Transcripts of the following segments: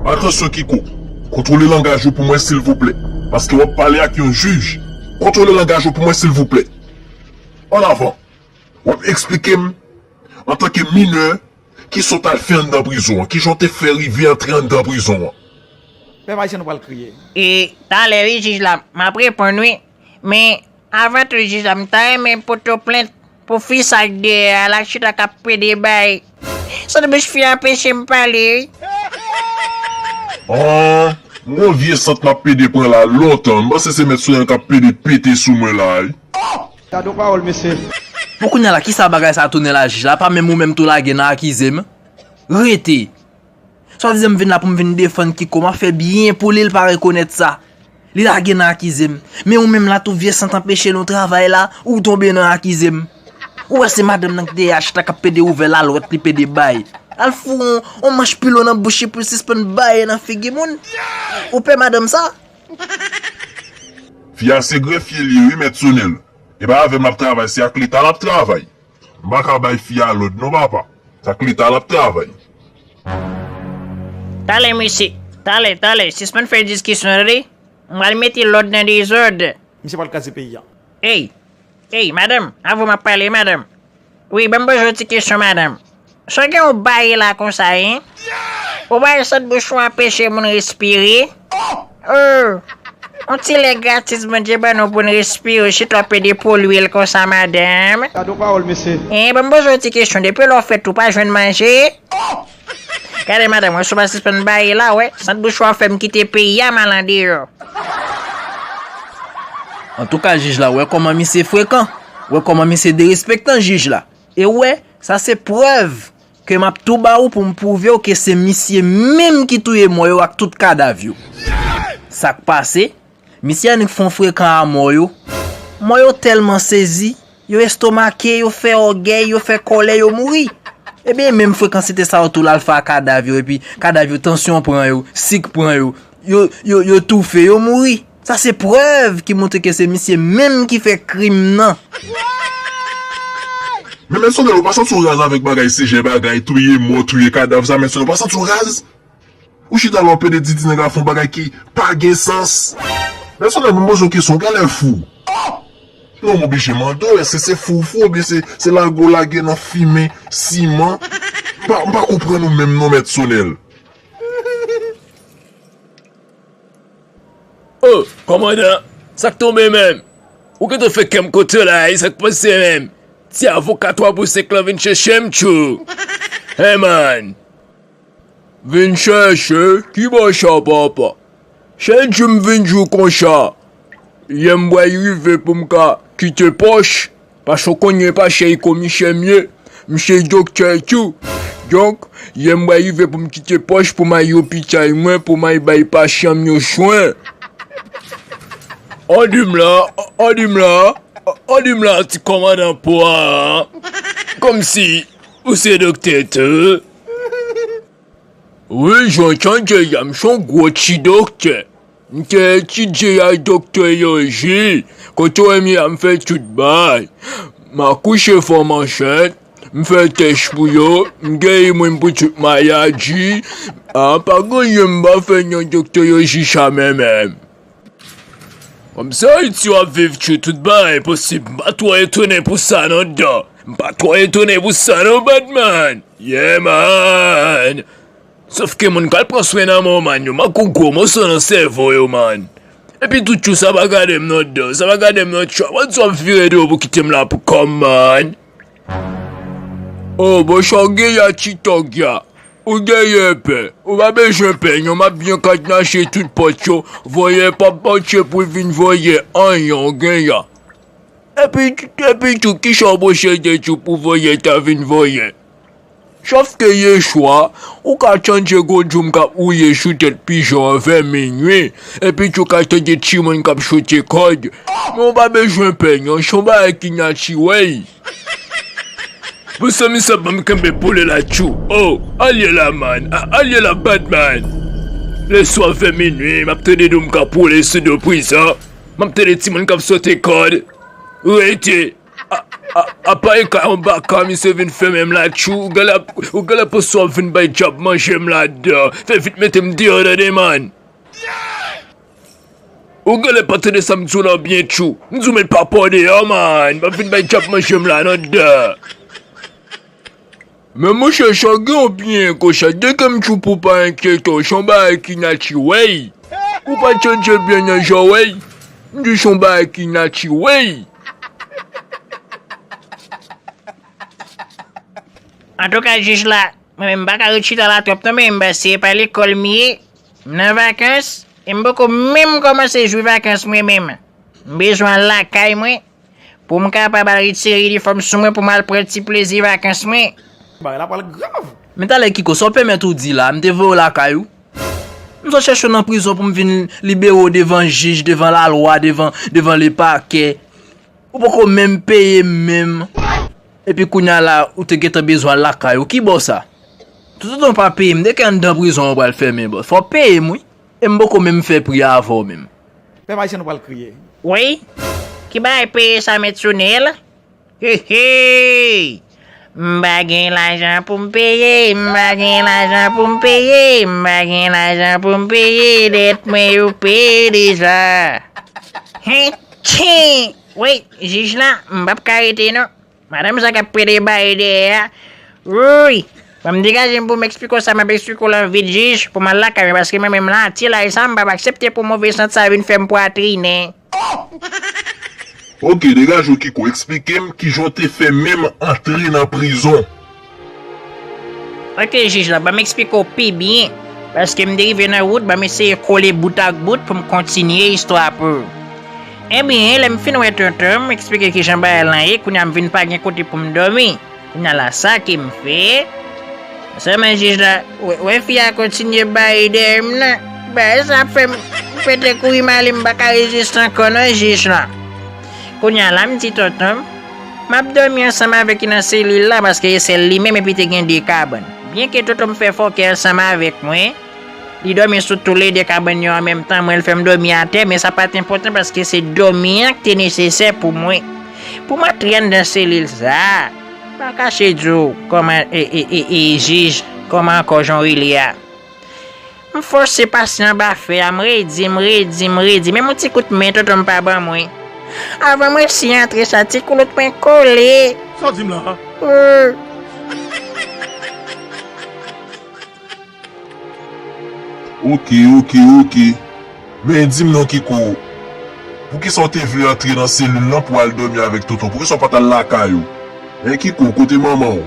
Atansyon Kiko, kontwole langaj ou pou mwen silvouplè, paske wap pale ak yon jij, kontwole langaj ou pou mwen silvouplè. An avan, wap eksplike m, antanke minè, kisa w t al fè anndan prizon an, kijan w te fè rive antre anndan prizon an. Pèp Ayisyen nou pral kriye. E talè wi jij la map reponn wi men Avan tout jij la m ta renmen poto plent pou fi sa k deyè a la chita kap pede bay sot bouch fi a anpechem pale wi. Aww m wè vye sant map pede pran la lontan m panse se mèt soyèn kap pede pete sou mwen la wi oh. Gadon pawol mesye. Bon kounya la kisa bagay sa tounen la jij la pa menm ou menm tou lage nan akize m rete. Swadizan m vin la pou m vin defann Kiko, m ap fè byen pou li l pa rekonèt sa. Li lage nan akize m. Men ou menm la tou vye sant anpeche nou travay la, ou tonbe nan akize m. Ou wè se madanm nan ki dèyè achit la k ap pede ouvè lalwèt li pede bay. Al foure yon manch pilon nan bouch li pou l sispann baye nan figi moun. Ou pè madanm sa? Fi a se grefye li ye wi mèt Sonel. E pa avè m l ap travay se ak leta l ap travay. M pa ka bay fi a lòd non papa. S ak leta l ap travay. Tale mesye, tale, tale, sispann fè diskisyon tande. M pral mete lòd nan dezòd. Misye pral kraze peyi a. Ey! Ey! Madanm! Avw m ap pale madanm. Wi ban m poze w ti kesyon madanm. Sa gen yon baye la konsa hein. Ou bay sot bouch ou anpeche moun respire ooh on ti lè gratis Bondye ban nou poun respire ou chita wap pede polye l konsa madame. Gad yon pawol mesye. Hein banm poze w ti kesyon depi lè w fèt ou pa jwenn manje ooh gade madame wè si w pa sispann baye la wè sant bouch ou ap fèm kite peyi a mal andeyò. Antouka jij la wè kòman misye frekan, wè kòman misye derespektan jij la. E ou wè, sa se prèv ke m ap tou ba ou pou m pwouve ou ke se misye menm ki touye mò yo ak tout kadav yo. Sa k pase, misye annik fon frekan a mò yo. Mò yo tèlman sezi, yo estomake, yo fè ògèy, yo fè kòlè, yo mouri. Ebyen menm frekansite sa yo tou l al fè a kadav yo epi kadav yo tansyon pran yo, sik pran yo, yo toufe, yo mouri. Sa se prèv ki montre ke se misye menm ki fè krim nan. Men mèsenè ou pa santi w raz avèk bagay sijè bagay touye mò touye kadav sa mèsenè ou pa santi w raz ou chita la w pede didi nèg la fon bagay ki pa gen sans mèsenè nou poze w kesyon genlè fou oh non m oblije mande w èske se fou w fou oubyen se lage w lage nan fimen siman m pa konprann ou menm non mèt sonèl. Oh kòmandan sak tonbe menm ou gentan fè kèm kontan la e sak pase menm ti avoka 3 pou 5 lan vin chèchèm tjou he man vin chèche ki bo sa papa chak jou m vin jou konsa lèm bwè rive poum ka kite pòch Paske w konn yon paske yon komisè m ye, misye yon doktè tou. Donk, lè mwen rive pou m kite pòs pou m al lopitay mwen pou m al bay pasyan m yo swen. An di m la, an di m la, an di m la ti kòmandan pwa a, kòmsi ou se doktè tou? Wi jan tande ya m son gwo ti doktè m te etidye ya doktoloji kote w wè m ya m fè tout bagay m akouche fanm ansent m fè tès pou yo m geri moun pou tout maladi a pa gen anyen m pa fè nan doktoloji sa menm. Kòmsi Ayiti yo ap viv tjou tout bagay posib m pa twò etone pou sa non Dan m pa twò etone pou sa non Badman Yeah man Sof ke moun k al pran swen nan mò man yo manke w gwo moso nan sèvo yo man Epi tou tjou sa pa gade m non Dan sa pa gade m non tjou avan tou ap vire do w pou kite m la pou kò m man. Oh bon sa w gen la ti tòg la Ou genyen pè Ou pa bezwen pè non Map byen kadnase tout pòt yo Vòlè pap pase pou l vin vòlè anyen ou gen la Epi tou kisa w posede tou pou vòlè ta vin vòlè Chofte Yeshua, ou ka chanje gwo djoum kap wouye sou tèt pijon an vè minui, epi tou ka tande timoun kap choute kòd, men ou pa bezwen pè non, son bagay ki natirèl. Mezanmi sa banm kenbe pou li la tjou oh alye la man ah alye la bad man leswa vè minwi map tande doum kap woule sou do prizon map tande timoun kap sote kòd rete Apa e kay anbaka misye vin fèmen m la tjou ou genlè ap ou genlè pran sou ap vin bay djab manje m ladan fè vit mete m deyò tande man ou genlè pa tande sa m di w lan byen tjou m di w met papa w deyò man m ap vin bay djab manje m la nan dan. Men monchè sa gen yon pnyen konsa dekem tjou pou pa enkyete w son bagay ki natirèl ou pa tchanje byen nan zòrèy m di son bagay ki natirèl. Antouka jij la, mwen menm m pa ka ret chita la twòp non men ba se pa lekòl m ye, m nan vakans e m poko menm kòmanse jwi vakans mwen menm. M bezwen al lakay mwen. Pou m kapab al retire inifòm sou mwen pou m al pran ti plezi vakans mwen. Bagay la pral grav. Men talè Kiko, sa w pèmèt ou di la a, m te voye w lakay ou? M sot chèche w nan prizon pou m vin libere w devan jij, devan lalwa, devan lepakè. Ou poko menm peye m menm. Epi kounya la a, ou te gentan bezwen al lakay ou. Ki bo sa? Toutotan w pa peye m, de ki anndan prizon an ou pral fèmen bòs? Fò w peye m wi. E m poko menm fè pri a avè w menm. Pèp ayisyen nou pral kriye. Woy! Ki bagay peye sa met sou ne l? Heheyy! M pa gen lajan pou m peye, m pa gen lajan pou m peye, m pa gen lajan pou m peye dèt mwen yo peye deja. Hentchee! Woy! Jij la, m p ap ka rete non. Madanm sa kap pede baye dèyè a Wouyy Fò m degaje m pou m eksplike w sa m ap eksplike w lan vit jij pou m al lakay mwen paske mwen menm lan Atilay sa m pap aksepte pou move sant sa vin fè m pwatrinen. Ohh Ok degaje w Kiko eksplike m kijan w te fè menm antre nan prizon. Ok jij la, banm eksplike w pi byen, paske m te rive nan wout, banm eseye kole bout ak bout pou m kontinye istwa a pou ou. Ebyen, lè m fin wè tonton, m eksplike kijan bagay lan ye, kounye a m vin pa gen kote pou m dòmi. Kounye a la sa ke m fè? Nan sèlman jij la, wè fi a kontinye bay dèyè m nan, bagay sa ap fè m pete kouri m ale m pa ka reziste ankò non jij la. Kounye a la m di tonton m, m ap dòmi ansanm avèk li nan selil la paske e sèl li menm epi te gen 2 kabann. Byenke tonton m fè fòkè ansanm avèk mwen, li dòmi sou toulede kabann yo an menm tan, mwen l fè m dòmi atè men sa pa t enpòtan paske se dòmi an k te nesesè pou mwen. Pou m antre anndan selil sa a, m pa kache di w, kòman, e, e, e, e, jij, kòman ankò jan w rele a? M fòse pase anba fè a, m redi, m redi, m redi, menm yon ti kout men tonton m pa ban mwen. Avan m resi antre sa ti koulout mwen kole. Sa w di m la a? Ooh! Ok, ok, ok. Men dim non kiko poukisa ou te vle antre nan selil lan pou al domi avek tonton poukisa ou pat al lakay ou hein kiko kote manmanw.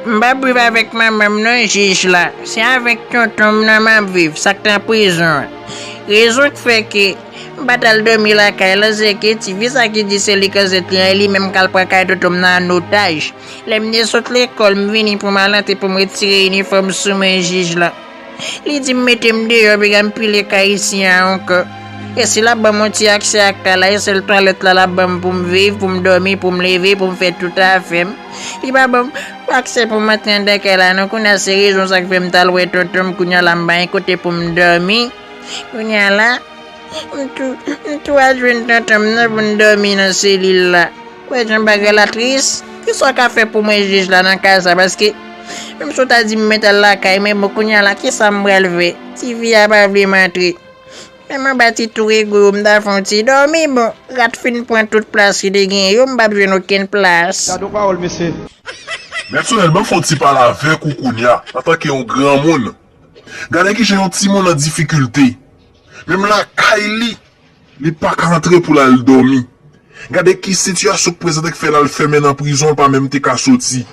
M pap viv avèk manman m non jij la, se avèk tonton m nan map viv sak nan prizon an. Rezon k fè ke m pat al dòmi lakay lan se ke ti fi sa ki di se li kazèk li an e li menm kal pran kay tonton m nan an otaj. Lè m te sot lekòl m vini pou m al antre pou m retire inifòm sou mwen jij la. Li di m mete m deyò epi gen pi li kay isi a ankò. E si l ap ban m yon ti aksè ak kay la, e sèl twalèt la l ap ban m pou m viv, pou m dòmi, pou m leve, pou m fè tout afè m. Li pa ban m aksè pou m antre anndan kay la non. Kounye a se rezon sa k fè m t al wè tonton m. Kounye a la m pa gen kote pou m dòmi. Kounye a la. M tou, m tou al jwenn tonton m nan pou n dòmi nan selil la. Ou wè jan bagay la tris? Ki sa w ka fè pou mwen jij la nan ka sa paske menm si w ta di m mèt al lakay men bon kounya la ki sa m pral fè? Ti fi a pa vle m antre. Menm anba ti tou rego yo m ta fè yon ti dòmi bon rat fin pran tout plas ki te genyen yo m pap jwenn okenn plas. Gadon pawòl mesye. Mèt Sonèl banm fon ti pale avèk ou kounya antanke yon granmoun. Gade kijan yon timoun an difikilte. Menm lakay li, li pa ka antre pou l al dòmi. Gade ki sitiyasyon k prezante k fè l al fèmen nan prizon l pa menm te ka soti.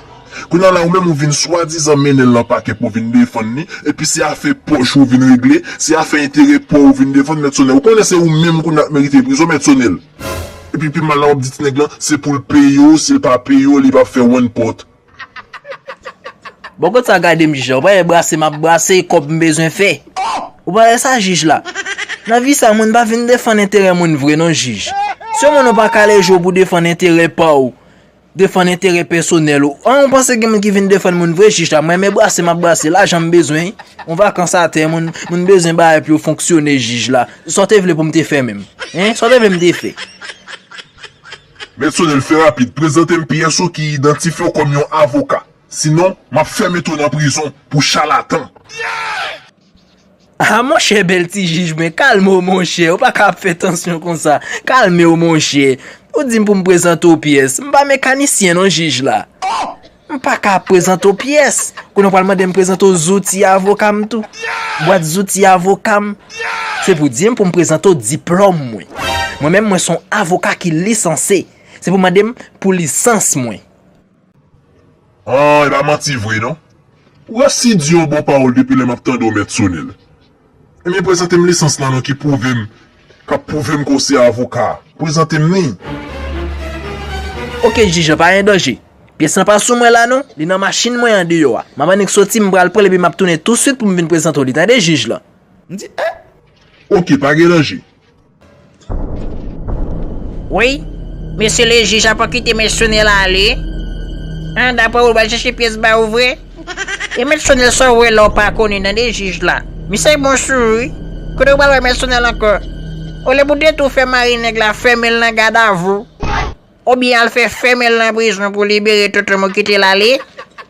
Kounya la ou menm ou vin swadizan mennen l nan pakè pou w vin defann li, epi se afè pòch ou vin regle, se afè enterè pa w ou vin defann Mèt Sonèl. Ou konnen se ou menm kounya k merite prizon Mèt Sonèl. Epi pi mal la w ap di ti nèg lan se pou l peye w, si l pa peye w li p ap fè wan pòt. Bon kot sa gadem jij la ou pa wè brase map brase e kòb m bezwen fè ou pa wè sa jij la nan vi sa moun pa vin defann enterè moun vre non jij si yon moun ou pa kale je w pou defann enterè pa w defann enterè pèsonèl ou an ou panse gen moun ki vin defann moun vre jij la m renmen brase map brase lajan m bezwen yon vakans atè moun moun bezwen bagay pou yo fonksyone jij la sa w te vle pou m te fè menm hein sa w te vle m te fè. Mèt Sonel fè rapid, prezante m pyès ou ki idantifye w kòm yon avoka. Sinon, m ap fè mete w nan prizon pou chalatan. Ah monchè bèl ti jij mwen kalme w monchè ou pa ka ap fè tansyon konsa kalme w monchè ou di m pou m prezante w pyès m pa mekanisyen non jij la. M pa ka ap prezante w pyès, kounye a w pral mande m prezante w zouti avoka m tou. Bwat zouti avoka m, se pou di m pou m prezante w diplòm mwen. Mwen menm mwen s on avoka ki lisanse, se pou mande m pou lisans mwen. An, e pa manti vre non. Ou resi di yon bon pawòl depi lè m ap tande w mèt Sonel. Ebyen prezante m lisans la non ki pwouve m kap pwouve m ke w se avoka. Prezante m li. Ok jij an pa gen danje. Pyès lan pa sou mwen la non, li nan machin mwen an deyò a. Map annik soti m pral pran l epi map tounen touswit pou m vin prezante w li tande jij lan. M di eh. Ok pa gen danje. Wi, mesye le jij a pa kite mèt Sonèl ale. An, daprè ou li pral chèche pyès ba ou vre? E mèt Sonèl sa ou wè la ou pa konnen nan de jij la? Misye bon sou ou wi. Kote ou pral wè mèt Sonèl ankò? Olye pou detou fè mari nèg la fèmen l nan gadavou. Ou byen al fè fèmen l nan prizon pou libere tonton mou kite l ale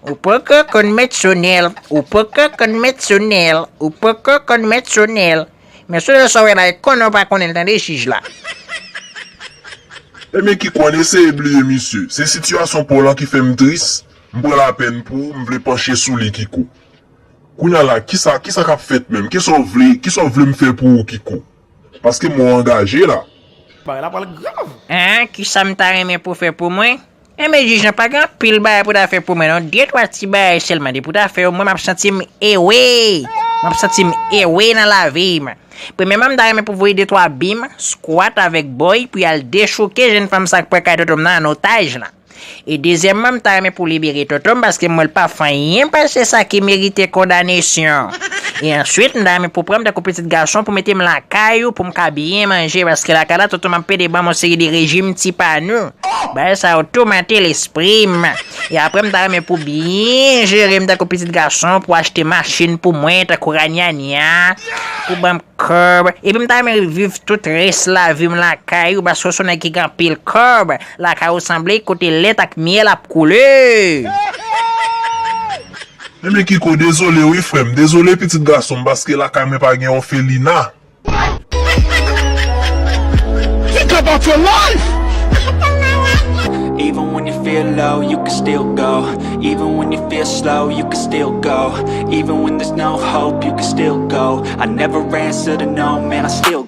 Ou poko konn mèt sonèl Ou poko konn mèt sonèl Ou poko konn mèt sonèl Men sonèl sa w wè la e konnen w pa konnen l tande jij la. Ebyen ki konn eseye bliye misye Se sitiyasyon paw lan ki fè m tris M pran lapèn pou ou m vle panche sou li Kiko Kounya la kisa kisa k ap fèt menm Kisa w vle kisa w vle m fè pou ou Kiko Paske mwen angaje la. Bagay la pral grav. Aa kisam ta renmen pou fè pou mwen Enben jij lan pa gen anpil bagay pou ta fè pou mwen non de twa ti bagay sèlman depi w ta fè yo mwen map santim ewe map santim ewe nan lavim premyèman m ta renmen pou voye de twa bim skwat avèk boy pou yal dechouke jèn fanm sa k pran kay tontonm nan an otaj lan. E dezyèmman m ta renmen pou libere Toto m paske m wè l pa fè anyen pase sa ki merite kondanesyon. E answit m ta renmen pou pran m tankou pitit gason pou mete m lakay ou pou m ka byen manje paske lakay la Toto m ap pede ban m yon seri de rejim ti pa nou. Bagay sa yo toumante lespri m. E aprè m ta renmen pou byen jere m tankou pitit gason pou achte machin pou mwen tankou ranyanya pou ban m kòb epi m ta renmen reviv tout rès lavi m lakay ou paske w se yon nèg ki gen anpil kòb. Lakay ou sanble kote lèt ak myèl ap koule. Enben kiko dezole wi frèm. Dezole pitit gasonm paske lakay mwen pa gen òfelina.